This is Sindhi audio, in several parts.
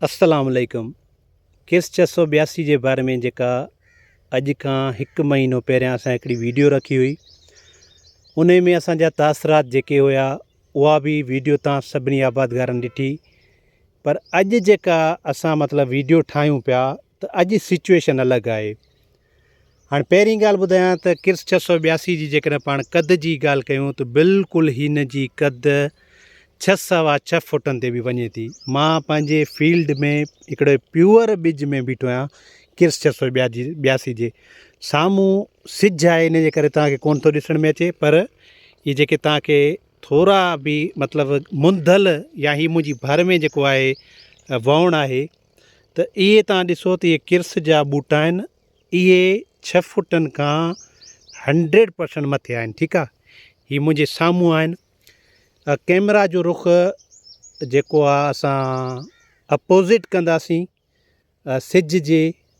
السلام عليڪم ڪيس ڇهه سؤ ٻياسي جي باري ۾ جيڪا اڄ کان هڪ مهينو پهريان اسان هڪڙي ويڊيو رکي هئي ان ۾ اسانجا تاثرات جيڪي هيا اها به ويڊيو تان سڀني آبادگارن ڏٺي پر اڄ جيڪا اسان مطلب ويڊيو ٺاهيون پيا ته اڄ سچوئيشن الڳ آهي. هاڻي پهرين ڳالهه ٻڌايان ته ڪرس ڇهه سؤ ٻياسي جي جيڪڏهن پاڻ قد جي ڳالهه ڪيون ته بلڪل هن جي قد ڇهه سوا ڇهه فوٽن تي به وڃي ٿي. مان پنهنجي فيلڊ ۾ هڪڙي پيور ٻج ۾ بيٺو آهيان ڪرس ڇهه سؤ ٻياسي جي سامهون سج آهي ان جي ڪري توهان کي ڪونه ٿو ڏسڻ ۾ اچي پر هي جيڪي توهان کي ٿورا به مطلب منڌل يا هي منهنجي ڀر ۾ جيڪو آهي وهڻ آهي ته اهي توهان ڏسو ته اهي ڪرس جا ٻوٽا آهن اهي ڇهه فٽن کان هنڊريڊ پرسنٽ مٿي آهن ٺيڪ آهي هي منهنجي سامهون آهن ڪيمرا جو رخ جيڪو آهي اسان اپوزٽ ڪنداسين سج جي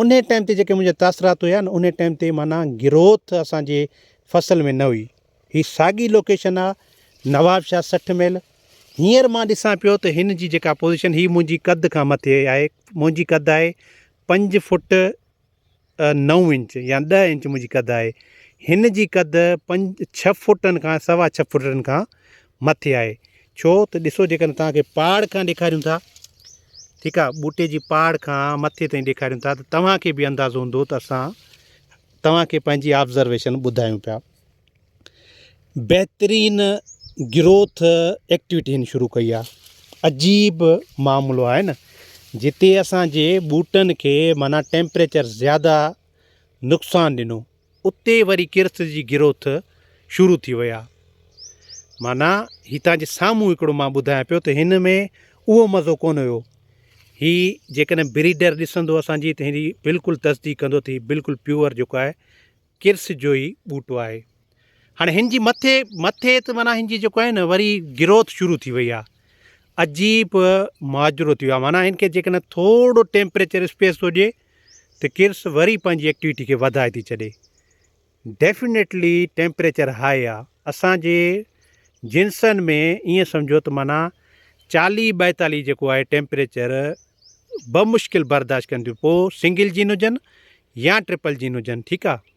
انهي ٽائيم تي جيڪي منهنجا تاثرات هيا نه انهي ٽائيم تي معنيٰ گروٿ اسان جي فصل ۾ نه هئي هي ساڳي لوڪيشن آ نوابشاهه سٺ ميل هينئر مان ڏسان پيو ته هن جي جيڪا پوزيشن هي منهنجي قد کان مٿي آهي منهنجي قد آهي پنج فوٽ نو انچ يا ڏهه انچ منهنجي قد آهي هن جي قد پنج ڇهه فوٽن کان سوا ڇهه فوٽن کان مٿي آهي ڇو ته ڏسو جيڪڏهن توهان کي پاڙ کان ڏيکاريون ٿا ٺيڪ آهي ٻوٽي جي پاڙ کان مٿي تائين ڏيکاريون ٿا ته توهان کي به اندازو هوندو ته اسان توهان کي پنهنجي آبزرويشن ٻڌايون پيا بهترين گروٿ ايڪٽيوٽي هن شروع ڪئي آهي عجيب معاملو آهي نه جتي اسانجي ٻوٽن کي معنيٰ ٽيمپريچر زياده نقصان ڏنو اتي وري ڪرت جي گروٿ شروع ٿي وئي آ معنيٰ هي تان جي سامهون هڪڙو مان ٻڌايان پيو ته هن ۾ اهو مزو ڪونه هيو هي جيڪڏهن بريڊر ڏسندو اسان جي ته هي بلڪل تصديق ڪندو ته هي بلڪل پيور جيڪو آهي ڪرس جو ئي ٻوٽو آهي هاڻي هن جي مٿي مٿي ته معنيٰ هن جي جيڪو آهي نه وري گروٿ شروع ٿي وئي آ عجيب ماجرو ٿي ويو آ معنيٰ هن کي جيڪڏهن ٿورڙو ٽيمپريچر اسپيس ٿو ڏي ته ڪرس وري پنهنجي ايڪٽيوٽي کي وڌائي ٿي ڇڏي. ڊيفنيٽلي ٽيمپريچر هاء آ. اسان جي جنسن ۾ ائين سمجهو ته معنيٰ چاليهه ٻائيتاليهه جيڪو آهي ٽيمپريچر بمشڪل برداشت ڪنديون پوء سنگل جين هجن يا ٽرپل جين هجن ٺيڪ آ.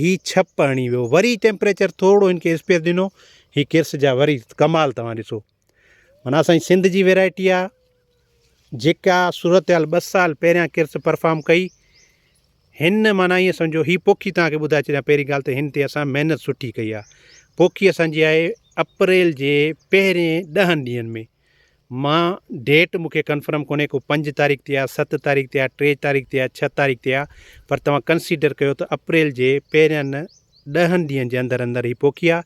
هي ڇپ هڻي ويو وري ٽيمپريچر ٿورڙو هن کي اسپيس ڏنو هي ڪرس جا وري ڪمال توهان ڏسو منا اسان جي سنڌ جي ويرائٽي آ جيڪا صورتحال ٻه سال پهريان ڪرس پرفارم ڪئي هن منا ائين سمجھو هي پوکي توهان کي ٻڌائي ڇڏيا پهرين ڳالهه ته هن تي اسان محنت سٺي ڪئي آ پوکي اسان جي آهي اپريل جي پهرين ڏهن ڏينهن ۾ مان ڊيٽ مون کي ڪنفرم ڪونهي ڪو پنج تاريخ تي آ ست تاريخ تي آ ٽي تاريخ تي آ ڇهه تاريخ تي آ پر توهان ڪنسيڊر ڪيو ته اپريل جي پهرين ڏهن ڏينهن جي اندر اندر هي پوکي آ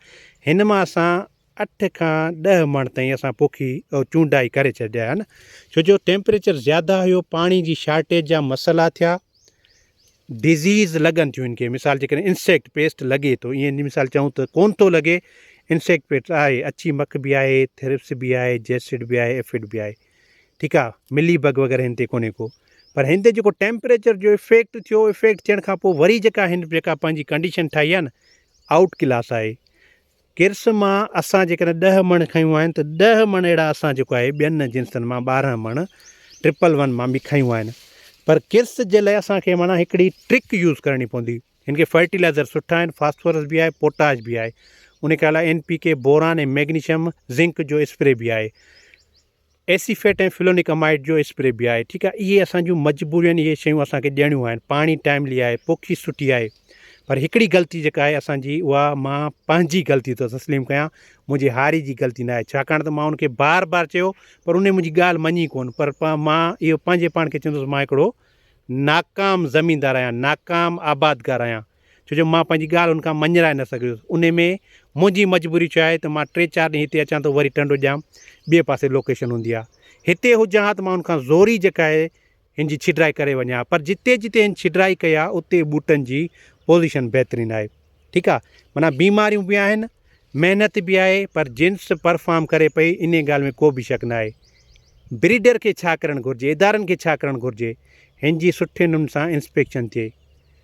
هن مان اسان اٺ کان ڏهه مڻ تائين اسان پوکي چونڊائي ڪري ڇڏيا آهن ڇو جو ٽيمپريچر زياده هيو پاڻي جي شارٽيج جا مسئلا ٿيا ڊزيز لڳن ٿيون ان کي مثال جيڪڏهن انسيڪٽ پيسٽ لڳي ٿو ائين جي مثال چئون ته ڪون ٿو لڳي انسيڪٽ پيسٽ آهي اڇي مک به آهي ٿرپس به آهي جيسڊ به آهي ايفڊ به آهي ٺيڪ آهي ملي بگ وغيره هن تي ڪونهي ڪو پر هن تي جيڪو ٽيمپريچر جو افيڪٽ ٿيو افيڪٽ ٿيڻ کان پوء وري جيڪا هن جيڪا پنهنجي ڪنڊيشن ٺاهي آهي نه آئوٽ ڪلاس آهي ڪرس مان اسان جيڪڏهن ڏهه مڻ کنيون آهن ته ڏهه مڻ اهڙا اسان جيڪو آهي ٻين جنسن مان ٻارهن مڻ ٽرپل ون مان به کنيون آهن پر ڪرس جي لاء اسان کي معنيٰ هڪڙي ٽرڪ يوز ڪرڻي پوندي هن کي فرٽيلائزر سٺا آهن فاسفورس به آهي پوٽاش به آهي ان کي الا N P K boron ۽ magnesium zinc جو اسپري به آهي ايسيفيٽ ۽ فلونڪ امائيڊ جو اسپري به آهي ٺيڪ آهي اهي اسان جون مجبورين اهي شيون اسان کي ڏيڻيون آهن پاڻي ٽائملي آهي پوکي سٺي آهي پر هڪڙي غلطي جيڪا آهي اسانجي اها مان پنهنجي غلطي ٿو تسليم ڪيان منهنجي هاري جي غلطي نه آهي ڇاڪاڻ ته مان ان کي بار بار چيو پر ان منهنجي ڳالهه مڃي ڪون پر مان اهو پنهنجي پاڻ کي چوندس مان هڪڙو ناڪام زميندار آهيان ناڪام آبادگار آهيان ڇو جو مان پنهنجي ڳالهه هن کان مڃرائي نه سگهيس. انهي ۾ منهنجي مجبوري ڇا آهي ته مان ٽي چار ڏينهن هتي اچان ٿو وري ٽنڊو ڄام ٻئي پاسي لوڪيشن هوندي آ. هتي هجان ها ته مان هن کان زوري جڪائي هن جي ڇيڊرائي ڪري وڃان ها پر جتي جتي هن ڇيڊرائي ڪئي آ اتي ٻوٽن جي پوزيشن بهترين آهي. ٺيڪ آ معنيٰ بيماريون به آهن محنت به آهي پر جنس پرفارم ڪري پئي انهي ڳالهه ۾ ڪو به شڪ ناهي. بريڊر کي ڇا ڪرڻ گهرجي ادارن کي ڇا ڪرڻ گهرجي هن جي سٺي نمن سان انسپيڪشن ٿئي.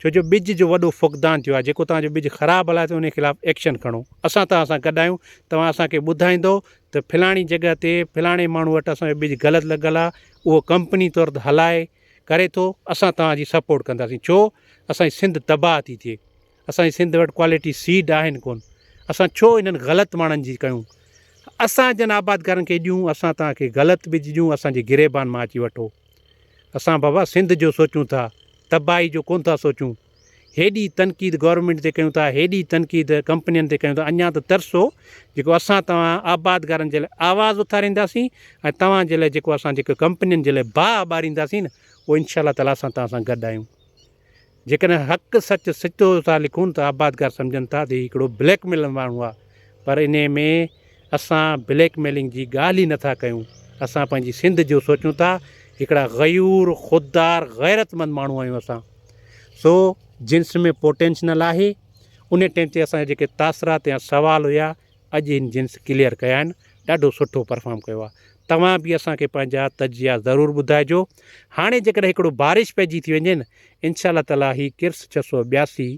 ڇو جو ٻج جو وڏو فقدان ٿيو آهي جيڪو توهان جو ٻج خراب هلائي ٿو انهي خلاف ايڪشن کڻو اسان توهان سان گڏ آهيون توهان اسان کي ٻڌائيندو ته فلاڻي جڳهه تي فلاڻي ماڻهو وٽ اسان جو ٻج غلط لڳل آهي اهو ڪمپني طور ته هلائي ڪري ٿو اسان توهان جي سپورٽ ڪنداسين ڇو اسان جي سنڌ تباهه ٿي ٿئي اسان جي سنڌ وٽ ڪوالٽي سيڊ آهن ڪون اسان ڇو انهن غلط ماڻهن جي ڪيون اسان جن آبادگارن کي ڏيون اسان توهان کي غلط ٻج ڏيون اسان جي گريبان مان اچي وٺو اسان بابا سنڌ جو سوچون ٿا تباهي جو ڪونه ٿا سوچون هيڏي تنقيد گورنمينٽ تي ڪيون ٿا هيڏي تنقيد ڪمپنين تي ڪيون ٿا اڃا ته ترسو جيڪو اسان توهان آبادگارن جي لاء آواز اٿارينداسين ۽ توهان جي لاء جيڪو اسان جيڪو ڪمپنين جي لاء باهه ٻارينداسين نه پوء انشاء الله تعالٰي اسان توهان سان گڏ آهيون. جيڪڏهن حق سچ سچو ٿا لکون ته آبادگار سمجهن ٿا ته هي هڪڙو بليڪ ميلر ماڻهو آ پر انهي ۾ اسان بليڪ ميلنگ جي ڳالهه ئي نٿا ڪيون اسان پنهنجي سنڌ جو سوچون ٿا هڪڙا غيور خوددار غيرتمند ماڻهو آهيون اسان سو جنس ۾ پوٽينشنل آهي انهي ٽيم تي اسان جا جيڪي تاثرات يا سوال هيا اڄ هن جنس ڪليئر ڪيا آهن ڏاڍو سٺو پرفام ڪيو آهي توهان به اسان کي پنهنجا تجزيا ضرور ٻڌائجو هاڻي جيڪڏهن هڪڙو بارش پئجي ٿي وڃي نه انشاء الله تعالٰي هي ڪرس ڇهه سؤ ٻياسي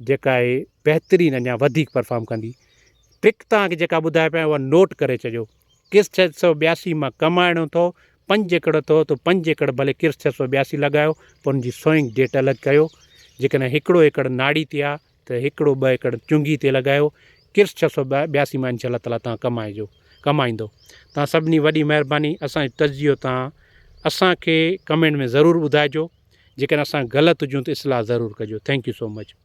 جيڪا آهي بهترين اڃا وڌيڪ پرفام ڪندي ٽرڪ توهان کي جيڪا ٻڌائي پيا اها نوٽ ڪري ڇڏيو ڪرس ڇهه سؤ ٻياسي مان ڪمائڻو اٿو پنج ايڪڙ اٿو تو پنج ايڪڙ ڀلي ڪرس ڇهه سؤ ٻياسي لڳايو پر ان جي سوئنگ ڊيٽ الڳ ڪيو جيڪڏهن هڪڙو ايڪڙ ناڙي تي آهي ته هڪڙو ٻه ايڪڙ چنگهي تي لڳايو، ڪرس ڇهه سؤ ٻياسي مان انشاء الله تعاليٰ تان ڪمائجو ڪمائيندو. تان سڀني وڏي مهرباني اسان جو تجزيو تان اسان کي ڪمينٽ ۾ ضرور ٻڌائجو جيڪڏهن اسان غلط هجون ته اصلاح ضرور ڪجو ٿينڪ يو سو مچ.